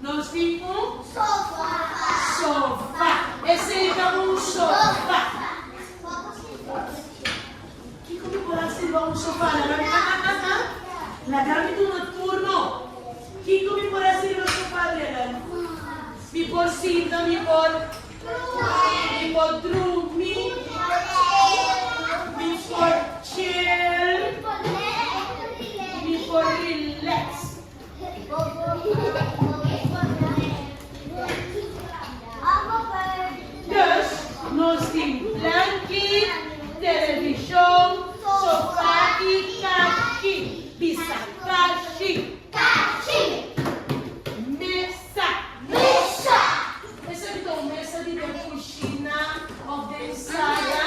Nos tin un. Sofa. Esei ta un sofa. Kiko mi por hasi riba un sofa? Laga mi a a a a. Laga mi duna tur no. Kiko mi por hasi riba sofa Adrianan? Mi por sinta, mi por. Mi por drumi. Mi por chil. Mi por relax. Dus nos tin blanki, televishon, sofa i kashi, bisa kashi, mesa, bo sabi ta un mesa di den kushina òf den sala,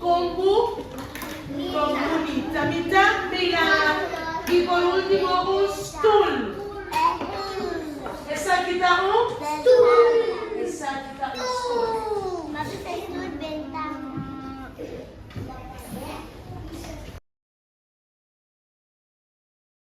Con cu con cu mita mita mirar y por ultimo un stoel esaki ta un stoel esaki ta un stoel.